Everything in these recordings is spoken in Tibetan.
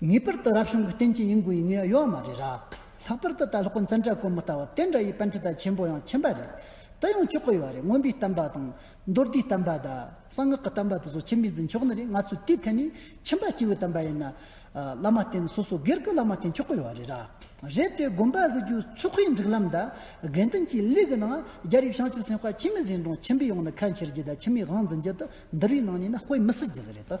ངེས་པར་དུ་རབ་བྱུང་གི་རྟེན་གྱི་ཡིན་དགོས་ཡིན་ངེས་ཡོད་མ་རེད་རབས། ལྷག་པར་དུ་ད་ལྷག་གི་འཛིན་གྲྭ་དཀོན་མོ་ལྟ་བུ་དེ་འདྲ་ཡི་པན་ཁྲི་ད་ཆེན་པོ་ཡང་མཁྱེན་པ་རེད། དེ་ཡང་ཆོག་གི་ཡོད་རེད་དངོས་པོའི་གཏམ་པ་དང། མདོར་བསྡུས་གཏམ་པ་དང། གསང་སྔགས་ཀྱི་གཏམ་པ་དེ་ཚོ་མཁྱེན་པའི་འཛིན་ཆོག་ནི་རེད་ང་ཚོས་དུས་ཐད་ནས་མཁྱེན་པ་སྐྱེ་བོའི་གཏམ་པ་ཡིན་ན། བླ་མ་དེ་ནི་སོ་སོ་སྒེར་གྱི་བླ་མ་དེ་མཆོག་གི་ཡོད་རེད་རབས། རེད་དེ་དགོན་པ་བཟོ་རྒྱུའི་ཚོགས་ཁའི་འགྲིག་ལམ་དང་དགེ་འདུན་གྱི་ལས་ཀྱི་ནང་རྒྱ་རིགས་བྱང་ཆུབ་སེམས་དཔའ་ཁྱིམ་མི་གཟིགས་མགྲོན་ཁྱིམ་པའི་ཡོང་ནས་ཁ་འཁྱེར་རྒྱུ་དང་ཁྱིམ་མིའི་དབང་འཛིན་རྒྱུ་དེ་འདུར་བའི་ནང་ནས་ནི་དཔེ་མི་སྲིད་རྒྱུ་རེད།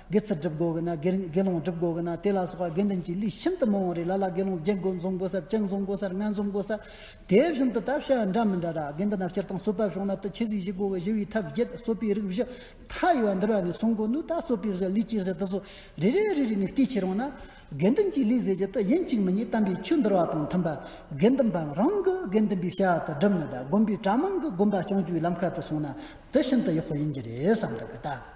དགེ་ཚུལ་སྒྲུབ་དགོས་གི་ན་དགེ་སློང་སྒྲུབ་དགོས་གི་ན་དེ་ལ་སོགས་པ་དགེ་འདུན་གྱི་ལུས་ཤིན་ཏུ་མང་བ་རེ་ལ་ལ་དགེ་སློང་བརྒྱད་དགུ་འཛོམས་དགོས་སར་བཅུ་འཛོམས་དགོས་སར་ལྔ་འཛོམས་དགོས་སར་དེ་བཞིན་དུ་བལྟ་བྱ་འདྲ་མི་འདྲ་ར་དགེ་འདུན་ན་སྤྱིར་བཏང་གསོལ་བ་བྱུང་ན་དུ་ཆོས་གཟིགས་བཞི་དགོས་གི་ཞི་བའི་ཐབས་བརྒྱད་རྩོད་པའི་རིགས་བཞི་མཐའ་ཡས་པ་འདིར་བ་ནས་གསུངས་དགོས་འདུག་ད་རྩོད་པའི་གཞི་ལུས་ཀྱི་གཞི་འདི་ཚོ་རེ་རེ་རེ་རེ་ནས་བལྟས་ཕྱིར་འོང་ན་དགེ་འདུན་གྱི་ལུས་ཟེར་རྒྱུ་དེ་ཡིན་གཅིག་མི་གཉིས་བལྟམས་པའི་ཆོས་འདིར་བ་དང་མཐུན་པ་དགེ་འདུན་པའམ་རང་གི་དགེ་འདུན་པའི་བྱ་བ་དེ་སྒྲུབ་ནི་དགོན་པའི་གྲྭ་མང་གི་དགོན་པ་སྐྱོང་རྒྱུའི་ལམ་ཁ་དུ་སོང་ན་དེ་ཤིན་ཏུ་ཡག་པོ་ཡིན་གྱི་རེད་བསམ་འདུག་གི་ད།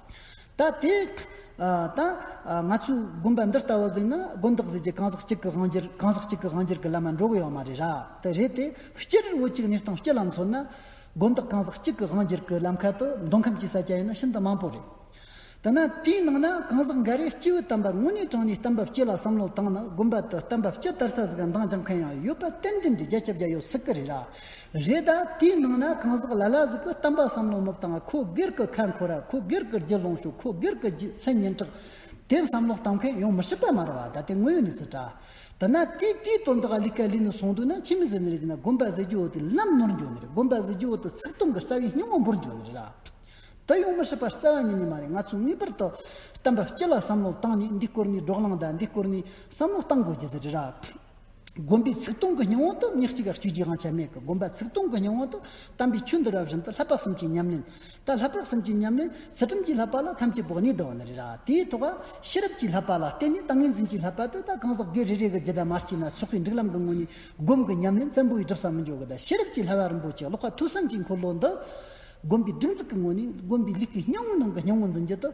ད་དེ་ད་ང་ཚོའི་དགོན་པ་འདི་ལྟ་བུ་ཟིག་ན་དགོན་བདག་ཟེར་གྱི་གང་ཟག་གཅིག་གི་དབང་བསྒྱུར་གང་ཟག་གཅིག་གི་དབང་བསྒྱུར་གྱི་བླ་མ་འགྲོ་གི་ཡོད་མ་རེད་ར་དེ་རེད་དེ་སྤྱིར་བོད་ཀྱི་གནས་སྟངས་སྤྱི་ལ་མཚོན་ན་དགོན་བདག་གང་ཟག་གཅིག་གི་དབང་བསྒྱུར་གྱི་ལམ་ཁ་དུ་འདོན་ཁམས་ཀྱི་ས་སྐྱ་ཡིན་ན་ཤིན་ཏུ་མང་པོ་རེད། དེ་ན་དེའི་ནང་ན་གང་ཟག་འགའ་རེས་སྤྱི་བོའི་གཏམ་པ་དངོས་གནས་དྲངས་ནས་གཏམ་འབབ་སྤྱི་ལ་བསམ་བློ་བཏང་ན་དགོན་པ་དུ་གཏམ་འབབ་སྤྱི་དར་ས་ཟིག་འདང་རྒྱག་མཁན་ཡང་ཡོད་པ་གཏན་འདུན་འདི་རྒྱ་ཁྱབ་རྒྱ་ཡོད་སྲིད་གི་རེད་ར་རེད་ད་དེའི་ནང་ན་གང་ཟག་ལ་ལ་ཟིག་གི་གཏམ་པ་བསམ་བློ་མོབ་དང་ཁོ་སྒེར་གི་ཁ་འཁོར་ར་ཁོ་སྒེར་གི་རྒྱུ་ལོངས་ཤུགས་ཁོ་སྒེར་གི་རྒྱུ་མཚན་སྙན་གྲགས་དེབ་བསམ་བློ་བཏང་མཁན་ཡོང་མི་སྲིད་པ་མ་རེད་བ་ད་དེ་དངོས་ཡོད་གནས་ཚུལ་འདྲ། དེ་ན་དེ་དེའི་དོན་དག་ལས་ཀ་ལས་ནས་སོང་དུས་ན་ཕྱི་མི་ཟེར་ནི་རེད་ཅེ་ན་དགོན་པ་ཟེར་རྒྱུ་འོ་དེ་ལམ་ནོར་འགྱོ་ནི་རེད་དགོན་པ་ཟེར་རྒྱུ་འོ་དེ་ཚིག་སྟོང་གི་རྩ་བའི་སྙིང་བོ་འབུར་འགྱོ་ནི་རེད་ར། དེ་ཡོང་མི་སྲིད་པ་རྩ་བ་ཉིད་ནས་མ་རེད་ང་ཚོས་ངེས་པར་དུ་གཏམ་པ་སྤྱི་ལ་བསམ་བློ་བཏང་ནས་འདི་སྐོར་ནས་འགྲོ་གླང་དང་འདི་སྐོར་ནས་བསམ་བློ་བཏང་དགོས་ཀྱི་ཟེར་རེད་ར། བསྒོམ་པའི་ཚིག་སྟོང་གི་སྙིང་བོ་དང་ཉག་གཅིག་ག་བཅུད་རྗེས་དབང་ཆ་མེད་ཀྱི་བསྒོམ་པ་ཚིག་སྟོང་གི་སྙིང་བོ་དང་དམ་པའི་ཆོས་འདི་རབ་བཞིན་དུ་ལྷག་པ་གསུམ་གྱི་ཉམས་ལེན། ད་ལྷག་པ་གསུམ་གྱི་ཉམས་ལེན་ཚུལ་ཁྲིམས་ཀྱིས་ལྷག་པ་ལ་ཐམས་ཅད་བོགས་གཉིས་བསྡུ་བ་ནི་རེད་ར་དེའི་ཐོག་ག་ཤེས་རབ་ཀྱིས་ལྷག་པ་ལ་བརྟེན་ནས་ཏིང་ངེ་འཛིན་གྱིས་ལྷག་པ་དེ་དག་གང་ཟག་སྒེར་རེ་རེ་གི་ཇི་ལྟར་མ་སྐྱེས་ན་ཚོགས་པའི་འགྲིག་ལམ་གྱི་དངོས་གཉིས་བསྒོམ་གྱི་ཉམས་ལེན་བཙན་པོ་ཡི་སྒྲུབ་ས་མི་འཇོག་གི་ད་ཤེས་རབ་ཀྱིས་ལྷག་པ་རིན་པོ་ཆེ་ཀློག་ཁ་ཐུགས་བསམ་གྱི་འཁོར་ལོ་འདི་བསྒོམ་པའི་སྒྲིག་འཛུགས་ཀྱི་དངོས་གནས་བསྒོམ་པའི་ལུས་ཀྱི་སྙིང་བོའི་ནང་གི་སྙིང་བོ་འཛིན་རྒྱུ་དང་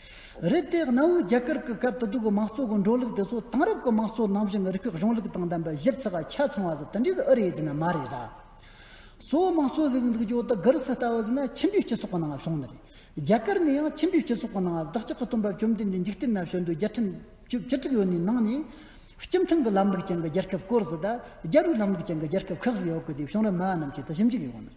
རེད་དེ་གནའ་བོའི་རྒྱ་གར་གྱི་སྐབས་དུ་སྡུག་གི་མང་གཙོ་གི་འགྲོ་ལུགས་དེ་ཚོ་དེང་རབས་ཀྱི་མང་གཙོ་ནང་བཞིན་རིགས་པའི་གཞུང་ལུགས་དང་ལྡན་པའི་ཞིབ་ཚགས་པ་ཆ་ཚང་བ་དེ་དེ་འདྲས་སུ་ཨུ་རེ་ཡིས་འཛིན་ན་མ་རེད་ར། གཙོ་བོ་མང་གཙོ་ཟེར་གི་འདུག་ཀྱི་འོ་ད་ག་རི་སི་ལྟ་བུ་ཟེར་ན་ཁྱིམ་པའི་སྤྱི་ཚོགས་ཀྱི་ནང་བབས་བྱུང་ནི་རེད། རྒྱ་གར་ནི་ཡང་ཁྱིམ་པའི་སྤྱི་ཚོགས་ཀྱི་ནང་བབས་བདག་ཅག་གི་སྟོན་པ་བཅོམ་ལྡན་འདས་འཇིག་རྟེན་ན་བྱོན་དུས་བརྒྱ་ཁྲི་བཅུ་བཅུ་དྲུག་ཡོད་ནི་ནང་ནས། སྤྱི་མཐུན་གྱི་ལམ་ལུགས་ཅན་གྱི་རྒྱལ་ཁབ་བསྐོར་ཟིག་ད། རྒྱལ་བོའི་ལམ་ལུགས་ཅན་གྱི་རྒྱལ་ཁབ་ཁག་ཟིག་ཡོད་གི་དེ་བྱུང་རབས་སྨྲ་བ་རྣམས་ཀྱིས་དེ་ཞིབ་འཇུག་གི་ཡོང།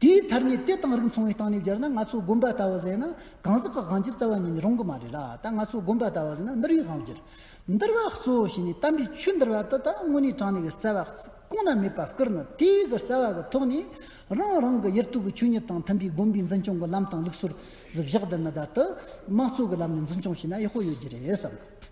དེའི་མཐར་ངས་དེ་དང་རིགས་མཚུངས་བའི་སྟེང་ནས་བསྒྱུར་ན་ང་ཚོ་དགོན་པ་ལྟ་བུ་ཟེར་ན་གང་ཟག་གི་དབང་བསྒྱུར་རྩ་བ་ཉིད་ནས་རུང་གི་མ་རེད་ལ་ད་ང་ཚོ་དགོན་པ་ལྟ་བུ་ཟེར་ན་འདུལ་བའི་དབང་བསྒྱུར། འདུལ་བ་གཙོ་བོ་བྱས་ནས་དམ་པའི་ཆོས་འདུལ་བ་འདི་དག་དངོས་གནས་དྲང་གནས་ཀྱི་རྩ་བ་གང་ན་མེད་པ་བསྐུར་ན་དེ་གའི་རྩ་བ་གི་ཐོག་ནས་རང་རང་གི་ཡུལ་དུས་ཀྱི་ཆོས་ཉིད་དང་མཐུན་པའི་དགོན་པའི་འཛིན་སྐྱོང་གི་ལམ་དང་ལུགས་སྲོལ་བཞག་འདི་ནི་བདག་དམངས་གཙོ་གི་ལམ་ནས་འཛིན་སྐྱོང་བྱས་ན་ཡག་པོ་ཡོད་རྒྱུ་རེད་བསམ།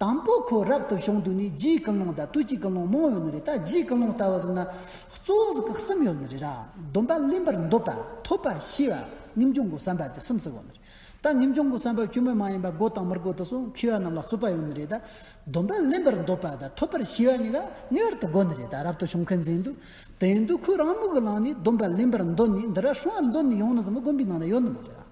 དང་པོ་ཁོ་རབ་ཏུ་བྱུང་དུས་ནི་རྒྱའི་ཀུན་སློང་དང་དུས་ཀྱི་ཀུན་སློང་མང་ཡོད་ནི་རེད་ད་རྒྱའི་ཀུན་སློང་ལྟ་བུ་ཟིན་ན་གཙོ་བོ་གཟུགས་ཀྱི་གསུམ་ཡོད་ནི་རེད་ར་སྡོམ་པ་གླེན་པར་འདོད་པ་ཐོབ་པ་ཤེས་པ་ངེས་འབྱུང་གི་བསམ་པ་གྱི་གསུམ་ཟེར་བ་ནི་རེད་ད་ངེས་འབྱུང་གི་བསམ་པ་ཁྱོད་མི་མ་ཡིན་པ་དགོས་དང་མི་དགོས་དུ་སོང་མཁས་པ་རྣམས་ལ་རྩོད་པ་ཡོད་ནི་རེད་ད་སྡོམ་པ་གླེན་པར་འདོད་པ་དང་ཐོབ་པར་ཤེས་པ་གཉིས་ཀ་ངེས་བར་དུ་དགོས་ནི་རེད་ད་རབ་ཏུ་བྱུང་མཁན་ཟིན་དུས་དེ་ཡིན་དུས་ཁོས་རང་མོས་ཀྱི་ལངས་ནས་སྡོམ་པ་གླེན་པར་འདོད་ནི་འདི་ར་ཧྲུལ་བ་འདོད་ནི་ཡོང་ནི་ཟིན་མི་དགོན་པའི་ནང་ན་ཡོད་ནི་མ་རེད་ར།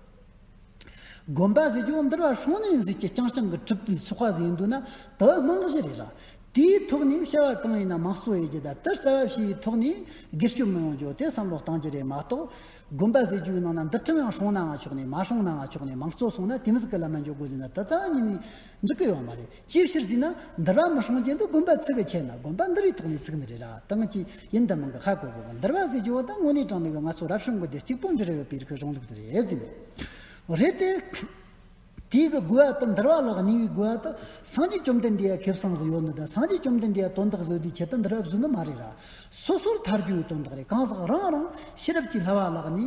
དགོན་པ་ཟེར་རྒྱུ་འདིར་བ་ཧྲོང་ནེ་ཟེར་གྱི་རྐྱང་རྐྱང་གི་གྲུབ་པའི་ཚོགས་པ་ཟེར་འདུག་ན་དེ་རྨང་གཞི་རེད་ར། དེའི་ཐོག་ནས་བྱ་བ་གང་ཡིན་ན་མང་གཙོ་ཡི་གེ་དང་དེར་རྩ་བ་བྱས་པའི་ཐོག་ནས་སྒེར་གཅོད་མི་ཡོང་རྒྱུ་དེ་བསམ་བློ་གཏང་རྒྱུ་རེད་མ་གཏོགས། དགོན་པ་ཟེར་རྒྱུའི་ནང་ན་འདི་ཁྲིམས་ཡང་ཧྲོང་ནའང་ཆོག་ནས་མ་ཧྲོང་ནའང་ཆོག་ནས་མང་གཙོ་སོང་ན་དེ་མི་ཟིག་གི་ལ་མ་འཇོག་དགོས་ཟེར་ན་དེ་རྩ་བ་ཉིད་ནས་འགྲིག་གི་ཡོད་མ་རེད། ཅིའི་ཕྱིར་ཅེ་ན། འདིར་རང་མི་ཧྲོང་ཅན་དུ་དགོན་པ་ཚུགས་པའི་ཆེད་ན་དགོན་པ་འདི་རིགས་ཐོག་ནས་ཚུགས་ནི་རེད་ར་བཏང་གི་ཡིན་འདི་མང་གི་ཧ་གོ་གོ་འདིར་བ་ཟས་ཇོ་བོ་དང་དངོས་གནས་དྲང་ནས་བའི་ང་ཚོ་རབ་བྱུང་གི་དེ་གཅིག་པོ་འདྲི་ར་ཡོད་པའི་རིགས་ཀྱི་གཞུང་ལུགས་རེད་ཟེར་ནས། རེད་དེ། དེའི་གི་དགོས་བ་དང་འདིར་བ་ལགས་ཉེ་བའི་དགོས་བ་དང་སངས་རྒྱས་བཅོམ་ལྡན་འདས་ཡ་ཁེབས་སངས་ཟིན་ཡོད་ནི་དང་སངས་རྒྱས་བཅོམ་ལྡན་འདས་ཡ་དོན་དག་བཟོས་དུས་ཆེད་དུ་འདིར་བ་བཟོས་ནི་མ་རེད་ར། སོ་སོར་ཐར་རྒྱུ་ཡི་དོན་དག་རེད་གང་ཟག་རང་རང་ཤེས་རབ་ཀྱི་ལྷ་བ་ལགས་ནི།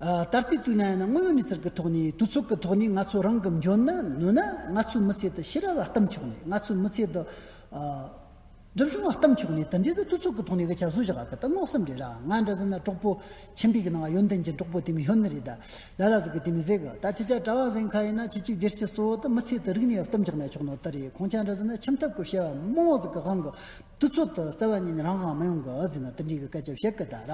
ད་ལྟའི་དུས་ན་ཡང་ན་དངོས་ཡོད་གནས་ཚུལ་གྱི་ཐོག་ནས་དུས་ཚོད་ཀྱི་ཐོག་ནས་ང་ཚོ་རང་གི་འཇོན་ན་ནུས་ན་ང་ཚོའི་མི་ཚེ་དུ་ཤེས་རབ་བ་གཏུམ་ཆོག་ནས་ང་ཚོའི་མི་ཚེ་དུ་སྒྲིབ་གཞུང་བ་གཏུམ་ཆོག་ནས་དེ་འདྲའི་ཚོ་དུས་ཚོད་ཀྱི་ཐོག་ནས་གི་བྱ་བཟོ་བྱ་བ་གི་དུ་སྔོག་སེམས་རེད་ར་ང་འདྲ་ཟེར་ན་གྲོགས་པོ་ཆེན་པོའི་གི་ནང་ཡོན་ཏན་གྱི་གྲོགས་པོ་དེ་མི་ཡོན་ནི་རེད་ད་ལ་ལ་ཟིག་གི་དེ་མི་ཟེར་གི་ད་ཁྱེད་ཅག་གྲྭ་བ་ཟེར་མཁན་ཡིན་ན་ཁྱེད་ཅིག་བདེར་གཤེགས་སོ་དུ་མི་ཚེ་དུ་རིག་ནས་བ་གཏུམ་ཆག་ནས་ཆོག་ནོ་དུ་རེད་ཁོང་ཅག་འདྲ་ཟེར་ན་ཁྱིམ་ཐབ་ཀྱི་བྱ་བ་མང་བ་ཟིག་གི་དབང་གི་ཏུ་ཚུལ་དུ་གསལ་བ་ཉིད་ནི་རང་གང་མ་ཡོང་གི་ཨ་ཟི་ན་ཏི་འབྲི་གི་སྐད་ཆ་བཤད་གི་གདའ་ར།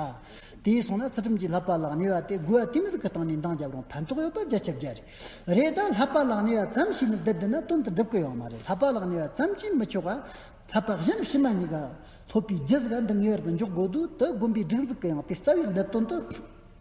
དེའི་སོང་ན་ཚུལ་ཁྲིམས་ཀྱིས་ལྷག་པ་ལགས་ནི་བ་དེ་དགུ་བ་དེ་མི་ཟིག་གི་སྟངས་ནས་འདང་རྒྱབ་རུང་ཕན་ཐོག་ཡོད་པ་རྒྱ་ཁྱབ་རྒྱ་རེད། རེད་ད་ལྷག་པ་ལགས་ནི་བ་ཙམ་ཞིག་ནི་བསྡད་འདི་ན་དོན་དུ་འགྲུབ་གི་ཡོད་མ་རེད་ལྷག་པ་ལགས་ནི་བ་ཙམ་གྱིས་མི་ཆོག་ག། ལྷག་པ་གཞན་ཕྱི་མ་གཉིས་ཀ། ལྷོད་པའི་རྒྱུ་ཟིག་ག་འདི་ངེས་བར་དུ་འཇོག་དགོས་འདུག་དེ་དགོན་པའི་སྒྲིག་འཛུགས་གི་ཡང་དེ་རྩ་བའི་འདི་དོན་དུ།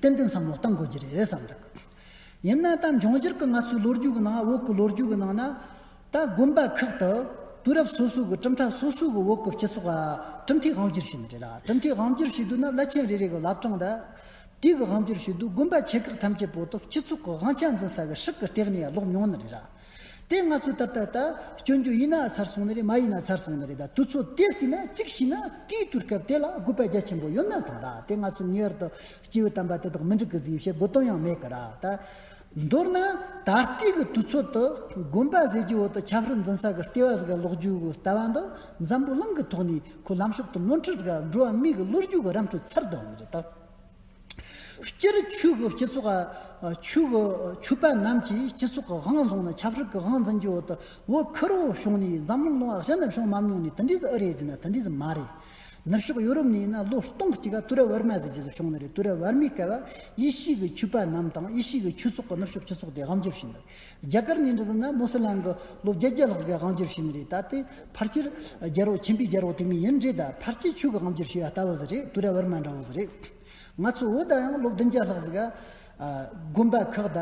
ཏན་ཏན་བསམ་བློ་གཏང་དགོས་ཀྱི་རེད་བསམ་གྱི་འདུག་ཡིན་ན་ད་འབྱུང་འགྱུར་གྱི་ང་ཚོའི་ལོ་རྒྱུས་ཀྱི་ནང་འོག་གི་ལོ་རྒྱུས་ཀྱི་ནང་ན་ད་དགོན་པ་ཁག་ཏུ་དུས་རབས་སོ་སོའི་གྲུབ་མཐའ་སོ་སོའི་གྱི་འོག་གི་སྤྱི་ཚོགས་གྲུབ་མཐའི་དབང་བསྒྱུར་བྱས་ནི་རེད་ལ་གྲུབ་མཐའི་དབང་བསྒྱུར་བྱས་དུས་ན་བླ་ཆེན་རེ་རེ་གྱི་བླ་བྲང་དུ་དུས་ཀྱི་དབང་བསྒྱུར་བྱས་དུས་དགོན་པ་ཆེ་ཁག་ཐམས་ཅད་པོ་ཏུ་སྤྱི་ཚོགས་ཀྱི་དབང་ཆ་འཛིན་ས་གྱི་ཧྲིག་གྱི་སྟེགས་ནས་ལོག་མྱོང་ནི་རེད་དེ་ང་ཚོས་ད་ལྟ་སྐྱོན་བརྗོད་ཡིན་ན་ཚར་སོང་ནི་རེད་མ་ཡིན་ན་ཚར་སོང་ནི་རེད་ད་དུས་ཚོད་དེར་བལྟས་ན་གཅིག་བྱས་ན་དེའི་དུས་སྐབས་དེ་ལ་དགོས་པ་རྒྱ་ཆེན་པོ་ཡོད་ན་ཐང་ར་དེ་ང་ཚོས་ངེས་བར་དུ་སྐྱེ་བོའི་དམ་པ་དེ་དག་མི་འགྲིག་གི་གཟིགས་བྱེད་དགོས་དོན་ཡང་མེད་གི་རེད་ད། མདོར་ན་ད་ལྟའི་གི་དུས་ཚོད་དུ་དགོན་པ་ཟེར་རྒྱུའི་འོག་ཏུ་ཆབ་སྲིད་འཛིན་ས་གི་ལྟེ་བ་ཟེར་གི་ལོག་རྒྱུའི་གི་ལྟ་བ་འདི་འཛམ་བུ་གླིང་གི་ཐོག་ནས་ཁོའི་ལམ་ཕྱོགས་དུ་ནོར་འཁྲུལ་ཟེར་གི་འགྲོ་བ་མིའི་གི་བློ་རྒྱུས་གི་རམ་འཕྲུལ་ཚར་དོན་ནི་རེད་ད། སྤྱིར་ཆོས་ཀྱི་སྤྱི་ཚོགས་ཆོས་ཀྱི་ཆོས་པ་རྣམས་ཀྱིས་སྤྱི་ཚོགས་ཀྱི་དབང་བཟུང་ནས་ཆབ་སྲིད་ཀྱི་དབང་འཛིན་གྱི་འོག་ཏུ་འོ་ཁུ་རུ་བྱུང་ནས་འཛམ་གླིང་ལོ་ལྔ་ནུབ་ཕྱོགས་མམ་ཉུང་ནས་དུ་འདྲིས་སུ་ཨི་རེད་ཟེར་ན་དུ་འདྲིས་སུ་མ་རེད། ནུབ་ཕྱོགས་ཡོ་རོབ་ནས་ཡིན་ན་ལོ་སྟོང་གཅིག་ག་ཏུ་ར་ཝར་མ་ཟེར་རྗེས་སུ་བྱུང་ནི་རེད་ཏུ་ར་ཝར་མའི་སྐལ་བ་དབྱེ་གཞིས་ཀྱི་ཆོས་པ་རྣམས་དང་དབྱེ་གཞིས་ཀྱི་ཆོས་ཚོགས་ཀྱི་ནུབ་ཕྱོགས་སྤྱི་ཚོགས་དེ་དབང་བསྒྱུར་བྱས་འདུག་རྒྱ་གར་ནས་འདྲི་ཟིན་ན་མོ་སི་ལང་གི་ལོ་བརྒྱད་བརྒྱ་ལྷག་ཟིག་གི་དབང་བསྒྱུར་བྱས་ནི་རེད་ད་དེ་ཕར་ཆེར་རྒྱལ་རོགས་ཆེན་པོའི་རྒྱལ་རོགས་དེ་མིན་ཡིན་རེད་ད་ཕར་ཆེ་ཆུ་གི་དབང་བསྒྱུར་བྱས་ཡ་ལྟ་བུ་ཟིག་རེད་དུ་ར་བར་མ་འདྲ་བོ་ཟིག་རེད་ང་ཚོ་བོད་ད་ཡང་ལོ་བདུན་བརྒྱ་ལྷག་ཟིག་གི་དགོན་པ་ཁག་ད་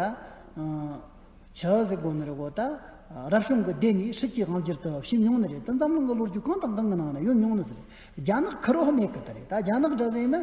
ཆ་ཟིག་དགོན་ནི་རི་བོ་ད་རབ་བྱུང་གི་སྡེ་ནས་ཧྲིལ་གྱིས་དབང་བསྒྱུར་དུ་ཕྱིན་མྱོང་ནི་རེད་ད་འཛམ་གླིང་གི་ལོ་རྒྱུས་གང་དང་གང་གི་ནང་ན་ཡོད་མྱོང་ནི་ཟིག་རེད་རྒྱ་ནག་ཁི་རོ་ཧི་མེ་ཁི་ད་རེད་ད་རྒྱ་ནག་འདྲ་ཟིག་ཡིན་ན།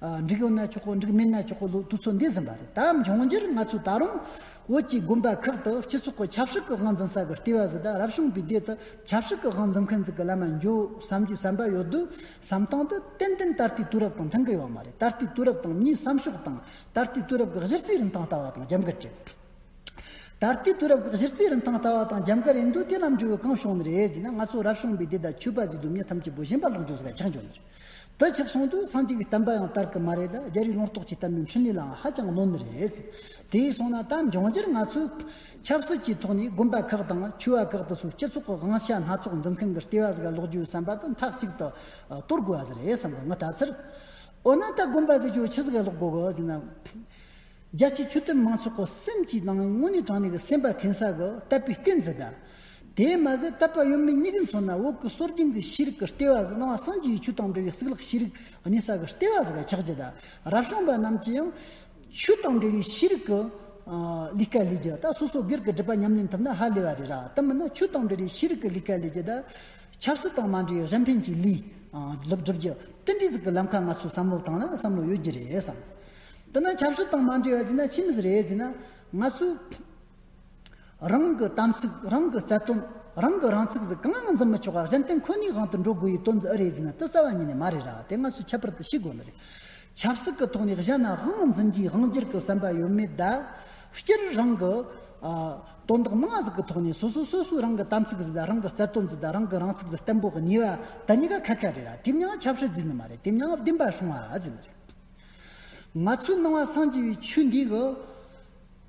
འགྲིག་ཡོང་ན་ཆོག་གོ་འགྲིག་མིན་ན་ཆོག་གོ་ལུགས་དུས་ཚོད་འདས་ཟིན་པ་རེད་ད་འབྱུང་འགྱུར་ང་ཚོས་ད་རུང་བོད་ཀྱི་དགོན་པ་ཁག་ཏུ་སྤྱི་ཚོགས་ཀྱི་ཆབ་སྲིད་ཀྱི་དབང་འཛིན་ས་གི་ལྟེ་བ་ཟི་ད་རབ་བྱུང་བའི་སྡེ་དུ་ཆབ་སྲིད་ཀྱི་དབང་འཛིན་མཁན་ཟི་གི་བླ་མ་འཇོག་བསམ་གྱི་བསམ་པ་ཡོད་དུས་བསམ་སྟངས་དེ་ཏན་ཏན་ད་ལྟའི་དུས་རབས་དང་མཐུན་གི་ཡོད་མ་རེད་ད་ལྟའི་དུས་རབས་དང་མིའི་བསམ་ཕྱོགས་དང་ད་ལྟའི་དུས་རབས་ཀྱི་གཞི་རྩའི་རིན་ཐང་ལྟ་བ་དང་རྒྱབ་འགལ་རེད། ད་ལྟའི་དུས་རབས་ཀྱི་གཞི་རྩའི་རིན་ཐང་ལྟ་བ་དང་རྒྱབ་འགལ་རེད་འདོད་དེ་ལམ་འགྲོ་བའི་གང་བྱུང་ནས་རེད་ཟེར་ན་ང་ཚོ་རབ་བྱུང་བའི་སྡེ་དང་ཆོས་པ་ཟི་དུ་མྱི་ཐམས་ཅད་བོད་ཞེན་པ་ལོག་འཇོག་ཟི་ག་ཆགས་འཇོག་ནས་རེད། དེ་ཆགས་སོང་དུས་སངས་རྒྱས་ཀྱི་བསྟན་པ་ཡང་དར་གི་མ་རེད་ད་རྒྱ་རིགས་ལོངས་རྟོགས་ཀྱི་བསྟན་པའི་འཕྲིན་ལས་ལའང་ཧ་ཅང་གནོད་ནི་རེད། དེས་སོང་ན་ད་འབྱུང་འགྱུར་ང་ཚོས་ཆབ་སྲིད་ཀྱི་ཐོག་ནས་དགོན་པ་ཁག་དང་ཆོས་བ་ཁག་དུ་སོགས་སྤྱི་ཚོགས་ཀྱི་དབང་ཆ་སྣ་ཚོགས་འཛིན་མཁན་གྱི་ལྟེ་བ་ཟིག་ལོག་རྒྱུའི་བསམ་པ་དེ་མཐའ་གཅིག་ཏུ་གཏོར་དགོས་བ་ཟིག་རེད་བསམ་གི་ངོ་ད་ཚར། འོ་ན་ད་དགོན་པ་ཟིག་ཆོས་ཆས་ཟིག་ལོག་དགོས་གི་ཟིག་ན། རྒྱལ་སྤྱིའི་ཆོས་དད་མང་ཚོགས་ཀྱི་སེམས་ཀྱི་ནང་དངོས་གནས་དྲང་གནས་ཀྱི་སེམས་པ་ཁེངས་ས་གི་བསྟད་པའི་རྟེན་ཟིག་གདའ། དེས་མ་ཟད་བཏབ་པ་ཡོད་མེད་གཉིས་ཀའི་མཚོན་ན་འོག་གི་སྲོལ་རྒྱུན་གྱི་ཤེས་རིག་གི་ལྟེ་བ་ཟི་སྣང་བ་སངས་རྒྱས་ཀྱི་ཆོས་དང་འབྲེལ་བའི་གཙུག་ལག་ཤེས་རིག་གཉིས་ས་གི་ལྟེ་བ་ཟི་ཁ་ཆགས་རྒྱུ་དང་རབ་བྱུང་པ་རྣམས་ཀྱིས་ཡང། ཆོས་དང་འབྲེལ་བའི་ཤེས་རིག་གི། ལས་ཀ་ལས་རྒྱུ་དང་སོ་སོ་སྒེར་གྱི་སྒྲིབ་པ་ཉམས་ལེན་ཐུབ་ན་ཧ་ལས་པ་རེད་ར་དེ་མིན་ན་ཆོས་དང་འབྲེལ་བའི་ཤེས་རིག་གི་ལས་ཀ་ལས་རྒྱུ་དང། ཆབ་སྲིད་དང་མ་འབྲེལ་བའི་རིན་ཕན་གྱི་ལས། སྒྲུབ་རྒྱུ། དེ་འདྲའི་ཟི་ཁི་ལམ་ཁ་ང་ཚོའི་བསམ་བློ་དང་ན་བསམ་བློ་ཡོད་རྒྱུ་རེད་བསམ། དེ་ན་ཆབ་སྲིད་དང་མ་འབྲེལ་བ་ཟི་ན་ཕྱི་མི་ཟི་རེད་ཟི་ན། ང་ཚོའི། རང་གི་དམ་ཚིག་རང་གི་རྩལ་དོན་རང་གི་རང་ཚིག་ཟིག་གང་ཡང་འཛིན་མི་ཆོག་ག་གཞན་བརྟེན་ཁོ་ནའི་དབང་དུ་འགྲོ་དགོས་ཡི་དོན་འཛིན་ཨི་རེད་ཟེར་ན་ཏི་རྩ་བ་ཉིད་ནས་མ་རེད་ར་དེ་ང་ཚོས་ཁྱད་པར་དུ་ཤེས་དགོས་ནི་རེད། ཆབ་སྲིད་ཀྱི་ཐོག་ནས་གཞན་ན་དབང་འཛིན་གྱིས་དབང་སྒྱུར་གྱི་བསམ་པ་ཡོད་མེད་དག་སྤྱིར་རང་གི། དོན་དག་མང་ཟིག་གི་ཐོག་ནས་སོ་སོ་སོ་སོའི་རང་གི་དམ་ཚིག་ཟིག་དང་རང་གི་རྩལ་དོན་ཟིག་དང་རང་གི་རང་ཚིག་ཟིག་བརྟན་པོ་གཉིས་པ་དེ་གཉིས་ཀ་ཁ་ཁ་རེད་ར་དེ་མྱང་ཆབ་སྲིད་འཛིན་ནི་མ་རེད་དེ་མྱང་བདེན་པ་སྲུང་བ་འཛིན་ནི་རེད། ང་ཚོའི་སྣང་བ་སངས་རྒྱས་པའི་ཆོས་འདི་གི།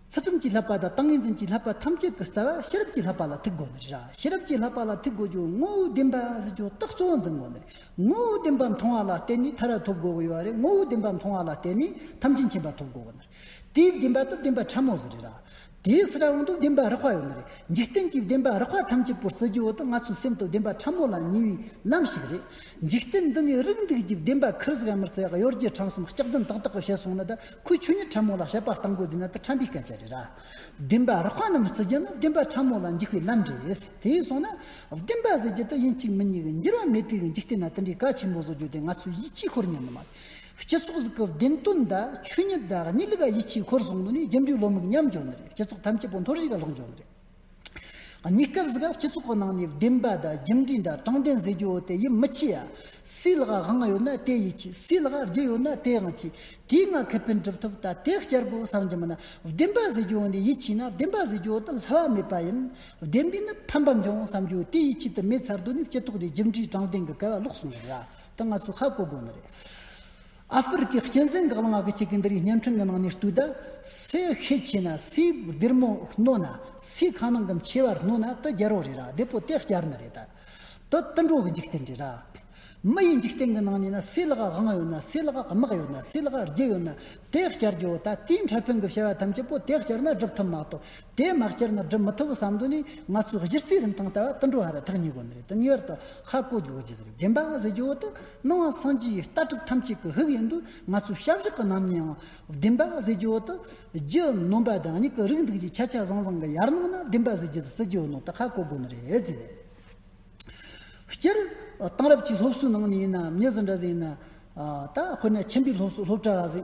ཚུལ་ཁྲིམས་ཀྱི་ལྷག་པ་དང་ཏིང་ངེ་འཛིན་གྱི་ལྷག་པ་ཐམས་ཅད་ཀྱི་རྩ་བ་ཤེས་རབ་ཀྱི་ལྷག་པ་ལ་ཐུག་གོ་ནི། ཤེས་རབ་ཀྱི་ལྷག་པ་ལ་ཐུག་གོ་རྒྱུ་ངོ་བོའི་བདེན་པ་གཟི་བརྗོད་རྟགས་གཙོ་བོ་འཛིན་གོ་ནི། ངོ་བོའི་བདེན་པ་མཐོང་བ་ལ་བརྟེན་ནས་ཐར་བ་ཐོབ་དགོས་ཀྱི་ཡོད་རེད་ངོ་བོའི་བདེན་པ་མཐོང་བ་ལ་བརྟེན་ནས་ཐམས་ཅད་མཁྱེན་པ་ཐོབ་དགོས་ཀྱི་ཡོད་ནི། དེའི་བདེན་པ་དུ་བདེན་པ་ཕྲ་མོ་ཟེར་རེད། དེའི་སི་རང་དུ་བདེན་པ་རགས་པ་ཡོད་ནི་རེད་འཇིག་རྟེན་གྱི་བདེན་པ་རགས་པ་ཐམས་ཅད་པོ་རྩི་རྒྱུ་དུ་ང་ཚོའི་སེམས་དུ་བདེན་པ་ཕྲ་མོ་ལ་ཉེ་བའི་ལམ་ཞིག་རེད། འཇིག་རྟེན་འདི་ནས་རིགས་འདུས་ཀྱི་བདེན་པ་ཁུར་ཟིག་ཨ་མི་རྩེ་གཡོར་གྱི་འཕྲང་གསུམ་ལྕགས་འཛིན་ཏག་ཏག་གི་བྱས་སོང་ན་ད་ཁོས་ཆོས་ཉིད་ཕྲ་མོ་ལ་བྱས་པ་སྟངས་འགོ་འཛིན་ན་ད་ཕྲ་མོའི་སྐད་ཆ་རེད་ར། བདེན་པ་རགས་པ་རྣམས་བརྩི་རྒྱུ་ནི་བདེན་པ་ཕྲ་མོ་ལ་འཇུག་པའི་ལམ་རེད། དེ་སོང་ན། བདེན་པ་བཟོས་རྒྱུ་དེ་ཡིན་གཅིག་མིན་གཉིས་འགྱུར་བ་མེད་པའི་འཇིག་རྟེན་ན་དེ་འདྲའི་གལ་ཆེན་པོ་བཟོ་རྒྱུ་དེ་ང་ཚོས་ཡིད་ཆེས་ཁོར་ཉན་ནི་མ་རེད། སྤྱི་ཚོགས་ཟིག་གི་བདེན་དོན་དང་ཆོས་ཉིད་དང་གནས་ལུགས་ཡིད་ཆེས་ཁོར་སོང་ན་ནི་རྒྱུ་འབྲས་བློ་མིག་ཉམས་འགྱུར་ནི་རེད་སྤྱི་ཚོགས་ཐམས་ཅད་པོ་འཐོར་བྱེད་ཀྱི་ལོག་འགྱུར་ནི་རེད། གནས་སྐབས་སུ་སྤྱི་ཚོགས་ཀྱི་ནང་ནས་བདེན་པ་དང་རྒྱུ་འབྲས་འདྲ་དྲང་བདེན་ཟེར་རྒྱུ་དེ་ཡིད་མི་ཆེས་ཡ། སུའི་ལག་དབང་ཡོད་ན་དེས་ཡིད་ཆེས་སུའི་ལག་རྒྱུ་ཡོད་ན་དེས་དབང་ཆེས། དེའི་ངང་ཁེ་ཕན་སྒྲུབ་ཐུབ་ད་དེ་བསྐྱར་དགོས་བསམ་གྱི་མིན་ན་བདེན་པ་ཟེར་རྒྱུ་ནི་ཡིད་ཆེས་ན་བདེན་པ་ཟེར་རྒྱུ་དེ་ལྷ་བ་མེད་པ་ཡིན། བདེན་པས་ནི་ཕན་པ་འབྱུང་བསམ་རྒྱུ་དེ་ཡིད་ཆེས་དུ་མེད་ཚར་དུས་ནི་སྤྱི་ཚོགས་འདི་རྒྱུ་འབྲས་དྲང་བདེན་གྱི་སྐལ་བ་ལོག་སོང་བ་རེད། དེ་ང་ཚོས་ཧ་གོ་དགོས་ནི་རེད། ཨ་ཧྥེ་རི་ཁའི་སྤྱི་མཚན་འགག་ལངས་ཀྱི་གཅིག་གི་འདི་རིགས་བརྙན་འཕྲིན་གྱི་ནང་ནས་བཏུས་ད་སའི་ཤེད་ཆེ་ན་སའི་སྡེར་མོ་རྣོ་ན་སའི་ཁ་ནང་གི་མཆེ་བ་རྣོ་ན་དུ་རྒྱལ་རོགས་རེད་ར་བདེ་པོ་སྟེ་སྐྱར་ནི་རེད་དུ་དུ་འགྲོ་གི་འཇིག་རྟེན་རེད་ར་མི་ཡི་འཇིག་རྟེན་གྱི་ནང་ནས་ན་སའི་ལག་དབང་ཡོད་ན་སའི་ལག་དམག་ཡོད་ན་སའི་ལག་རྒྱལ་ཡོད་ན་དེ་སྐྱར་རྒྱུ་བོ་ད་དེའི་འཕྲལ་ཕུན་གྱི་བྱ་བ་ཐམས་ཅད་པོ་དེ་སྐྱར་ན་སྒྲུབ་ཐུབ་མ་གཏོགས་དེ་མ་སྐྱར་ན་སྒྲུབ་མི་ཐུབ་བསམ་དོན་ནི་ང་ཚོའི་གཞི་རྩའི་རིན་ཐང་ལྟ་བ་དུ་འགྲོ་ཧ་ར་ཐག་ཉེ་དགོ་ནི་རེད་དུ་ངེས་པར་དུ་ཧ་གོ་རྒྱུ་བོ་རྒྱུ་ཟེར་བའི་བདེན་པ་ཟེར་རྒྱུ་བོ་དུ་སྣང་བ་སངས་རྒྱས་ཡི་ལྟ་གྲུབ་ཐམས་ཅད་ཀྱི་དབུགས་ཡིན་དུས་ང་ཚོའི་ཞབས་བཞི་གི་ནང་ནའང་བདེན་པ་གཟི་བརྗིད་འོག་ཏུ། རྒྱུ་ནོམ་པ་བདག་ཉིད་ཀྱི་རིགས་འདུག་ཅེས་ཆ་ཆ་ཟང་ཟང་གི་ཡར་སྣང་ན་བདེན་པ་གཟི་བརྗིད་སྲིད་རྒྱུའི་ནང་དུ་ཧ་གོ་དགོས་ནི་རེད་ཟེར། སྤྱིར་བཏང་རབ་བྱུང་སློབ་གསོའི་ནང་ནས་ཡིན་ནམ་མྱི་ཟི་འདྲ་ཟི་ཡིན་ན། ད་དཔེར་ན་ཆེན་པོའི་སློབ་གསོ་སློབ་གྲྭ་བ་ཟི།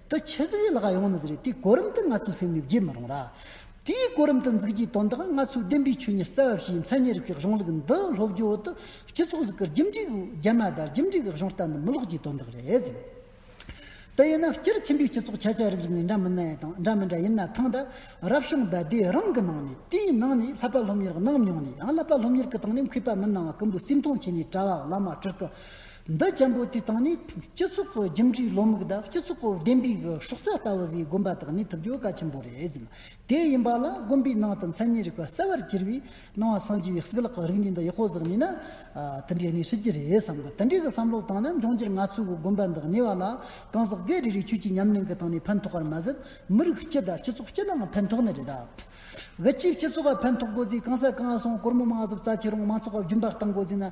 དུ་ཆེ་ཟེར་བའི་ལ་ག་ཡོང་ནི་ཟེར་བའི་དེའི་གོ་རིམ་དུ་ང་ཚོའི་སེམས་ནས་བརྗེད་མི་རུང་ར། དེའི་གོ་རིམ་དུ་འཛུགས་རྒྱུའི་དོན་དག་ང་ཚོའི་བདེན་པའི་ཆོས་ཉིད་གསལ་བ་ཞིག་ཡིན་མཚན་ཉིད་རིག་པའི་གཞུང་ལུགས་འདི་སློབ་སྦྱོང་འོག་ཏུ་སྤྱི་ཚོགས་གཟུགས་སྐར་རྒྱུན་འབྲས་བུ་རྒྱ་མ་དར་རྒྱུན་འབྲས་ཀྱི་གཞུང་རྟ་འདི་མི་ལོག་རྒྱུའི་དོན་དག་རེད། དེ་ཡིན་ན་སྤྱིར་ཆེན་པོའི་སྤྱི་ཚོགས་ཁྱད་ཆོས་རིགས་རིགས་ནས་འདྲ་མི་ནའི་དང་འདྲ་མི་འདྲ་ཡིན་ན་ཐང་དང་རབ་བྱུང་རྦད་དེ་རང་གི་ནང་ནས་དེའི་ནང་ནས་ལྷག་པ་སློབ་གཉེར་གནང་མྱོང་ནས་ཡང་ལྷག་པ་སློབ་གཉེར་གྱི་སྟེང་ནས་མཁས་པ་མི་སྣང་བ་ཀུན་པོ་སེམས་མཐོང་བྱས་ནས་གྲྭ་བ་བླ་མ་སྤྲུལ་སྐུ་འདི་ཆེན་པོ་དེ་དང་ནི་སྤྱི་ཚོགས་ཀྱི་རྒྱུ་འབྲས་བློ་མིག་དང་སྤྱི་ཚོགས་ཀྱི་བདེན་པའི་སྲོག་རྩ་ལྟ་བུ་བཟོས་དགོན་པ་དག་ནི་ཐུབ་རྒྱུ་གལ་ཆེན་པོ་རེད། དེ་ཡིན་པ་ལ་དགོན་པའི་ནང་དུ་མཚན་ཉིད་རིག་པ་གསལ་བར་གྱུར་པའི་སྣང་བ་སངས་རྒྱས་པའི་སྲིད་ལག་གི་རིག་གནས་འདི་ཡག་པོ་བཟོ་ནས་ན། དེ་འདྲའི་གནས་ཤིག་གྱི་རེད་བསམ་གི་དེ་འདྲའི་གི་བསམ་བློ་དང་ནི་འབྱུང་འགྱུར་ང་ཚོའི་གི་དགོན་པ་འདི་གནས་བ་ལ་གང་ཟག་སྒེར་རེ་རེའི་ཆོས་ཀྱི་ཉམས་ལེན་གི་སྟེང་ནས་ཕན་ཐོགས་པར་མ་ཟད་མི་རིགས་སྤྱི་དང་སྤྱི་ཚོགས་སྤྱི་ནའང་ཕན་ཐོགས་ནི་རེད། གི་སྤྱི་སྤྱི་ཚོགས་ལ་ཕན་ཐོགས་དགོས་ཚེ་གང་ཟག་གང་ཟག་སྲོང་དཀོར་མོ་མ་ཟབ་རྩ་ཆེ་རུང་མང་ཚོགས་ལ་རྒྱུན་པར་བཏང་དགོས་ཚེ་ན།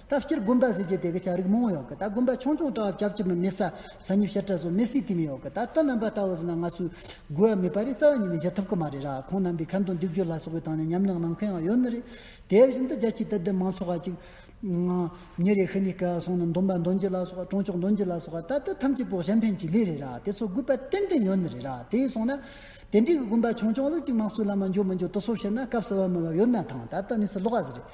ད་སྤྱིར་དགོན་པ་ཟེར་གྱི་དེ་གི་ཆ་རིགས་མང་བོ་ཡོང་གི་ད་དགོན་པ་ཆུང་ཆུང་གྲགས་བྱབ་ཀྱི་མི་མེད་ས་ཆ་ཉིབ་བཤེར་གྲ་སོགས་མེད་སྲིད་ཀི་མི་ཡོག་གི་ད་དོན་རྣམ་པ་ལྟ་བུ་ཟིན་ན་ང་ཚོས་དགོས་ཡ་མེད་པ་རིགས་རྩ་བ་ཉིད་ནས་བཞེད་ཐུབ་ཀི་མ་རེད་ར་ཁོང་རྣམ་པའི་ཁ་མདོ་འདེབས་རྒྱུ་ལ་སོགས་པའི་ཐང་ནས་ཉམས་ལེན་གནང་མཁན་ཡང་ཡོད་ནི་རེད་དེ་བཞིན་དུ་རྒྱ་ཆེའི་དད་ལྡན་མང་ཚོགས་ཁ་ཅིག་ཉེ་རེ་ཤི་ནས་སྐལ་བ་སོང་ནི་འདོམས་པ་འདོན་རྒྱུ་ལ་སོགས་གྲོང་ཆོག་འདོན་རྒྱུ་ལ་སོགས་ད་ལྟ་ཐམས་ཅད་བོགས་གཞན་ཕན་གྱི་ལས་རེད་ར་དེ་ཚོ་དགོས་པ་ཏན་ཏན་ཡོད་ནི་རེད་ར་དེས་སོང་ན་དེ་འདྲའི་གི་དགོན་པ་ཆུང་ཆུང་ལུགས་གཅིག་མང་གཙོའི་ལམ་ལ་འཇོག་མི་འཇོག་དུ་སོབ་བཤད་ན་སྐབས་གསལ་བ་མེད་པ་ཡོད་ན་ཐང་ད་ལྟ་གནས་ཚུལ་ལོགས་ཀ་ཟེར་རེད་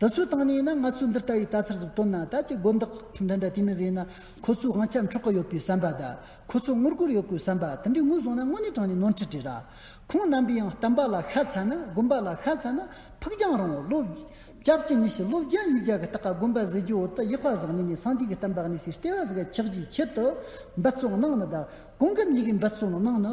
དེ་ཚོའི་སྟེང་ནས་ན་ང་ཚོས་འདི་ལྟ་བུའི་ལྟ་ཚུལ་ཟིག་བཏོན་ན་ད་ཅི་དགོས་འདོག་ཁྱིམ་འདྲ་འདྲ་དེ་མི་ཟེར་ན་ཁོ་ཚོའི་དབང་ཆ་འཕྲོག་གི་ཡོད་པའི་བསམ་པ་དང་ཁོ་ཚོ་ངོ་རྒོལ་ཡོད་དགོས་བསམ་པ་དེ་འདྲའི་ངོས་བཟུང་ན་དངོས་གནས་དྲང་ནས་ནོར་འཁྲུལ་བྲིས་ར། ཁོང་རྣམ་པས་ཡང་བསྟན་པ་ལ་ཤ་ཚ་ན་དགོན་པ་ལ་ཤ་ཚ་ན་ཕུགས་རྒྱང་རིང་བོ་ལོ། སྐྱབས་བཅུ་གཉིས་ཤིག་ལོ་བརྒྱ་ཉིས་བརྒྱ་གི་སྟག་ག་དགོན་པ་ཟེར་རྒྱུའི་འོག་ཏུ་གཡག་བ་ཟག་ནས་ནས་སངས་རྒྱས་ཀྱི་གཏམ་བག་ནས་སའི་ལྟེ་བ་ཟིག་ག་ཆགས་རྒྱུའི་ཆེད་དུ་འབད་བརྩོན་གནང་ནི་དག་གོང་གི་མྱིག་གི་འབད་བརྩོན་གནང་ནི་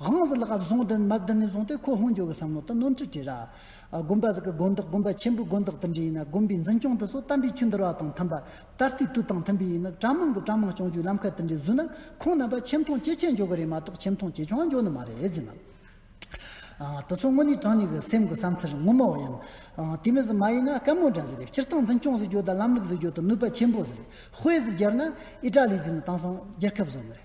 དབང་ཟིལ་ལག་བཟུང་སྟེ་མར་བསྡུ་ནས་བཟུང་སྟེ་ཁོ་ཧོན་ཇོ་གི་བསམ་བློ་དང་ནོར་འཁྲུལ་བྲིས། དགོན་པ་ཟིག་གི་དགོན་བདག་དགོན་པ་ཆེན་པོའི་དགོན་བདག་དུ་འདྲི་ཡིན་ན་དགོན་པའི་འཛིན་སྐྱོང་དེ་ཚོ་དམ་པའི་ཆོས་འདུལ་བ་དང་མཐུན་པ་ད་ལྟའི་དུས་དང་མཐུན་པའི་ཡིན་ན་གྲྭ་མང་གི་གྲྭ་མང་སྐྱོང་རྒྱུའི་ལམ་ཁ་དེ་འདྲའི་བཟོས་ན་ཁོང་རྣམ་པ་ཆེ་མཐོང་ཇེ་ཆེ་འཇོག་གི་རེད་མ་གཏོགས་ཆེ་མཐོང་ཇེ་ཆུང་འཇོག་ནི་མ་རེད་ཟེར། དེ་ཚོ་དངོས་གནས་དྲང་གནས་ཀྱི་སེམས་ཀྱི་བསམ་ཚུལ་ངོ་མ་བ་ཡིན། དེ་མིན་ཟིག་མ་ཡིན་ན་བཀའ་མོལ་འདྲ་ཟིག་རེད་སྤྱིར་བཏང་འཛིན་སྐྱོང་ཟིག་རྒྱུ་དང་ལམ་ལུགས་ཟིག་རྒྱུ་དང་ནུས་པ་ཆེན་པོ་ཟིག་རེད་དཔེ་ཟིག་སྦྱར་ན་ཨི་ཏྲ་ལི་ཟིག་ནི་དེང་སང་རྒྱལ་ཁབ་བཟོ་ནི་རེད།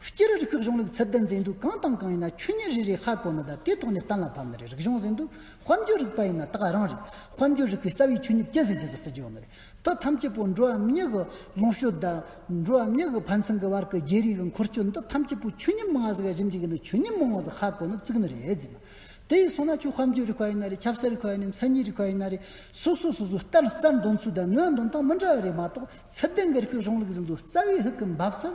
སྤྱིར་རིགས་ཁག་གཞུང་ལུགས་ཚད་ལྡན་འཛིན་དུས་གང་དང་གང་ཡིན་ན་ཆོས་ཉིད་རེ་རེའི་ཧ་གོ་ན་ད་དེའི་ཐོག་ནས་གཏན་ལ་ཕབ་ནི་རེད་རིག་གཞུང་འཛིན་དུས་དཔལ་འབྱོར་རིག་པ་ཡིན་ན་དག་རང་རེད་དཔལ་འབྱོར་རིག་པའི་རྩ་བའི་ཆོས་ཉིད་སྐྱེད་སྲིང་བྱེད་ས་སྲིད་འབྱོར་མི་རེད་དོ་ཐམས་ཅད་པོ་འགྲོ་བའམ་ཉིད་ཀྱི་ལོངས་སྤྱོད་དང། འགྲོ་བའམ་ཉིད་ཀྱི་ཕན་ཚུན་གྱི་བར་གྱི་བརྗེ་རེས་ཀྱི་འཁོར་སྐྱོད་འདི་ཐམས་ཅད་པོ་ཆོས་ཉིད་མང་ཟེར་བ་གཞི་འཇིག་ཡིན་དུས་ཆོས་ཉིད་མང་བ་ཟེར་ཧ་གོ་ནི་བརྩིགས་ནི་རེད་རྫུན་མ་དེ་ཡིན་སོང་ན་ཁྱོད་དཔལ་འབྱོར་རིག་པ་ཡིན་ན་རེད་ཆབ་སྲིད་རིག་པ་ཡིན་ནམ་མཚན་ཉིད་རིག་པ་ཡིན་ན་རེད་སོ་སོ་སོ་སོའི་གཏན་གསལ་འདོན་ཚུལ་དང་ནུས་འདོན་སྟངས་མི་འདྲ་བ་རེད་མ་གཏོགས་ཚད་ལྡན་གྱི་རིག་ཁག་གཞུང་ལུགས་འཛིན་དུས་རྩ་བའི་ཧུད་ཀྱི་འབབ་ཚུལ་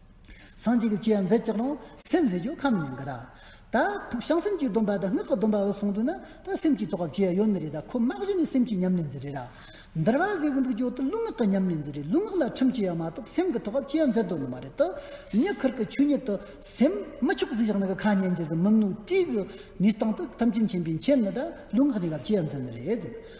སངས་རྒྱས་ཀྱི་བཅུད་ཡང་མཛད་ཅིག་རང་སེམས་ཟེར་རྒྱུ་ཁམས་ཉན་གི་ར། ད་ཐུབ་བྱང་སེམས་ཀྱི་སྡོམ་པ་དང་སྔགས་ཀྱི་སྡོམ་པ་འོད་སྲུང་དུ་ན་ད་སེམས་ཀྱི་རྟོགས་པ་བཅུ་ཡང་ཡོད་ནི་རེད་ད་ཁོ་དམག་གཞི་ནི་སེམས་ཀྱི་ཉམས་ལེན་ཟེར་རེད་ར། འདིར་བ་ཟེར་གི་འདུག་ཇོ་དུ་ལུགས་སྔགས་ཀྱི་ཉམས་ལེན་ཟེར་རེད་ལུགས་སྔགས་ལ་ཁྲིམས་གཅོད་ཡང་མ་གཏོགས་སེམས་ཀྱི་རྟོགས་པ་བཅུ་ཡང་མཛད་དོ་ནི་མ་རེད་དོ། ཉེ་ཁར་གྱི་ཆོས་ཉིད་དུ་སེམས་མི་ཆོག་ཟིག་བཞག་ན་གི་ཁ་ཉན་ཅིག་ཟིག་མི་ནུས་དུས་ཀྱི་ནུས་སྟངས་དུ་ཐམས་ཅད་མཁྱེན་པའི་མཁྱེན་ནི་ད་ལུགས་སྔགས་ནི་ལ་བཅུ་ཡང་མཛད་ནི་རེད་ཟེར།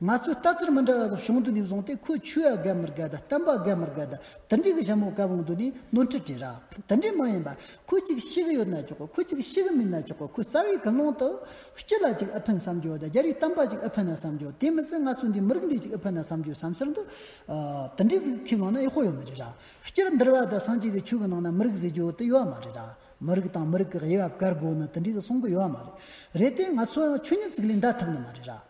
ང་ཚོས་ལྟ་ཚུལ་མི་འདྲ་བ་སོགས་བྱུང་འདུག་ནས་བཟུང་སྟེ་ཁོས་ཆོས་ཡ་རྒལ་མི་རྒལ་དང་བསྟན་པ་རྒལ་མི་རྒལ་དང་དེ་འདྲའི་གི་ཞྭ་མོ་བཀལ་འོང་འདུག་ནས་ནོར་འཁྲུལ་བྲིས་རགས་དེ་འདྲས་མ་ཡིན་པ་ཁོས་གཅིག་ཤི་གི་ཡོད་ན་ཆོག་གོ་ཁོས་གཅིག་ཤི་གི་མིན་ན་ཆོག་གོ་ཁོས་རྩ་བའི་དགུན་ལོང་དུ། སྤྱི་ལ་གཅིག་ཨི་ཕན་བསམ་རྒྱུ་དང་རྒྱ་རིགས་བསྟན་པ་གཅིག་ཨི་ཕན་ན་བསམ་རྒྱུ་དེ་མི་ཚད་ང་ཚོ་འདིའི་མི་རིགས་འདི་གཅིག་ཨི་ཕན་ན་བསམ་རྒྱུའི་བསམ་ཚུལ་འདི། དེ་འདྲའི་ཟིག་ཁས་ལོངས་ན་ཡག་ཤོ་ཡོད་མི་རེད་ར། སྤྱིར་འདིར་བ་དང་སངས་རྒྱས་ཀྱི་ཆོས་ཀྱི་ནང་ན་མི་རིགས་ཟེར་རྒྱུ་དེ་ཡོད་མ་རེད་ར། མི་རིགས་དང་མི་རིགས་ཀྱི་དབྱེ་བ་བཀར་དགོས་ནི་དེ་འདྲའི་གི་གསུང་གི་ཡོད་མ་རེད། རེད་དེ་ང་ཚོའང་ཆོས་ཉིད་ཚིག་ལས་འདའ་ཐུབ་ནི་མ་རེད་ར།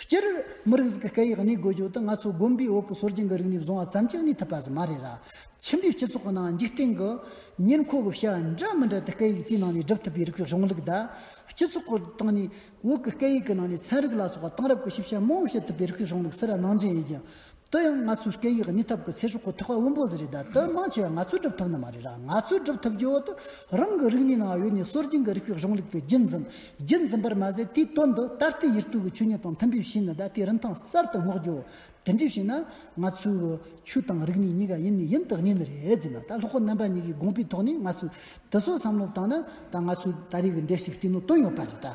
སྤྱིར་མི་རིགས་ཀྱི་སྐད་ཡིག་གནས་དགོས་རྒྱུ་དེ་ང་ཚོ་དགོན་པའི་འོག་གི་སྲོལ་རྒྱུན་གྱི་རིག་གནས་བཟུང་བ་ཙམ་གྱིས་གནས་ཐུབ་པ་ཞིག་མ་རེད་ལ། ཕྱི་འབྲེལ་སྤྱི་ཚོགས་ཀྱི་ནང་འཇིག་རྟེན་གྱི་ཉེར་མཁོ་གི་བྱ་བ་འདྲ་མི་འདྲ་དེ་སྐད་ཡིག་དེའི་ནང་ནས་སྒྲུབ་ཐུབ་པའི་རིགས་ཀྱི་གཞུང་ལུགས་དང། སྤྱི་ཚོགས་ཀྱི་སྟེང་ནས་འོག་གི་སྐད་ཡིག་གི་ནང་ནས་ཚན་རིག་ལ་སོགས་པ་གཏང་རབས་ཀྱི་ཞིབ་བཤེར་མང་བོ་བྱེད་ཐུབ་པའི་རིགས་ཀྱི་གཞུང་ལུགས་སེ་ར་ནང་འདྲེན་ཡོད་ཀྱང། དེ་ཡང་ང་ཚོའི་སྐད་ཡིག་གཉིས་ཐབས་ཀྱི་ཚེ་སྲོག་གི་ཐོག་ཁ་དབུལ་པོ་ཟེར་རེད་ད་དེ་མང་ཆེ་བ་ང་ཚོས་སྒྲུབ་ཐུབ་ནི་མ་རེད་ར་ང་ཚོས་སྒྲུབ་ཐུབ་རྒྱུའོ་དེ་རང་གི་རིག་གནས་ནང་ཡོད་ནས་སྲོལ་རྒྱུན་གྱི་རིགས་པའི་གཞུང་ལུགས་པའི་རྒྱུན་འཛིན་རྒྱུན་འཛིན་པར་མ་ཟད་དེའི་དོན་དུ་ད་ལྟའི་ཡུལ་དུས་ཀྱི་ཆོས་ཉིད་དང་མཐུན་པའི་ཕྱིན་ནི་ད་ལྟའི་རིན་ཐང་གསར་དུ་བསྔོག་རྒྱུའོ་དེ་འདྲའི་ཕྱིན་ན་ང་ཚོའི་ཆོས་དང་རིག་གནས་གཉིས་ཀ་ཡིན་ནི་ཡིན་དག་ངེས་ནི་རེད་ཟེར་ན་ད་ལྷོ་ཁ་རྣམ་པ་གཉིས་ཀྱི་དགོངས་པའི་ཐོག་ནས་ང་ཚོས་དེ་ཚོ་བསམ་བློ་བཏང་ན་ད་ང་ཚོའི་ད་རེས་ཀྱི་འདས་ཞིག་སྟེང་ནོ་དོན་ཡོད་པ་རེད་ད།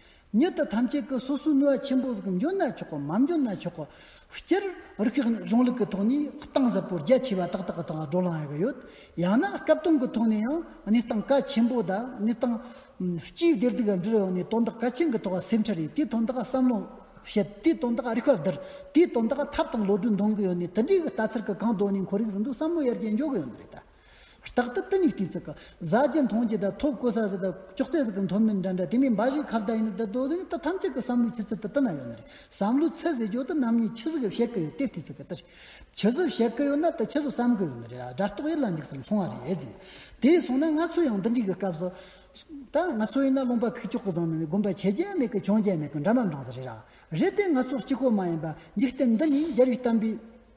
མྱི་དེ་ཐམས་ཅད་ཀྱི་སོ་སོའི་ནུས་བ་ཆེན་པོ་ཟིག་འབྱོར་ན་ཆོག་གོ་མ་འབྱོར་ན་ཆོག་གོ། སྤྱིར་རིག་གཞུང་གཞུང་ལུགས་ཀྱི་ཐོག་ནས་གཏིང་ཟབ་པོ་རྒྱ་ཆེ་བ་ཏག་ཏག་གི་ཐོག་ལ་བགྲོ་གླེང་གནང་ཡི་ཡོད། ཡང་ན་སྐབས་སྟོན་གྱི་ཐོག་ནས་ཡང་གནས་སྟངས་གལ་ཆེན་པོ་དང་གནས་སྟངས་སྤྱིའི་བདེ་སྡུག་གི་འབྲེལ་ཡོད་ནས་དོན་དག་གལ་ཆེན་གྱི་ཐོག་ལ་སེམས་ཁྲལ་རེད་དེའི་དོན་དག་བསམ་བློ་བྱེད་དེའི་དོན་དག་རིག་པ་བསྡུར་དེའི་དོན་དག་ཐབས་དང་བློ་གྲོས་འདོན་གྱི་ཡོད་ནས་དེ་འདྲའི་ལྟ་ཚུལ་གྱི་གང་དོན་ནས་འཁོར་རིགས་ཟིན་དུས་བསམ་བློ་ཡར་རྒྱས་འཇོག་གི་ཡོད་རེད་དཱ། རྟག་ཏུ་ཏི་ནི་ཏི་ཙི་ཀ། གཟའ་བརྒྱད་མཐོང་བརྒྱད་དང་ཐོབ་ཀོ་ས་ཟི་དང་ཅོག་ཙེ་ཟི་ཀ་མཐོ་དམན་འདྲ་འདྲ་དེ་མིན་འབའ་ཞིག་ཁ་བརྡ་ཡིན་ནི་ད་དོ་དོ་ནི་ད་ཐམས་ཅད་ཀྱི་བསམ་བློའི་ཆུ་ཚོད་དུ་ཏི་ན་ཡོད་ན་རེད་བསམ་བློའི་ཚད་ཟེར་རྒྱུ་ཏི་ནམ་ཉིད་ཆུ་ཟི་ཀ་བཤད་ཀི་ཡོད་ཏེ་ཏི་ཙི་ཀ་ཏི་ཆུ་ཟི་བཤད་ཀི་ཡོད་ན་ཏི་ཆུ་ཟི་བསམ་ཀི་ཡོད་ན་རེད་ཨ་སྒྲ་རྟོག་ཡིད་ལ་འཇིགས་སུ་མཚུངས་བ་རེད་ཟེར། དེས་སོང་ན་ང་ཚོ་ཡང་འདི་འདྲིའི་གི་སྐབས་སུ། ད་ང་ཚོ་ཡིན་ན་རླུང་པ་ཁུག་ཅོག་གི་བཟང་ན་ནི་དགོན་པ་ཆེ་རྒྱལ་མེད་གི་ཆུང་རྒྱལ་མེད་གི་འདྲ་མ་འདྲ་ཟེར་རེད་ར། རེད་དེ་ང་ཚོ་གཅིག་གོ་མ་ཡིན་པ་འཇིག་རྟེན་འདི་ནི་རྒྱལ་བའི་གཏམ་པའི།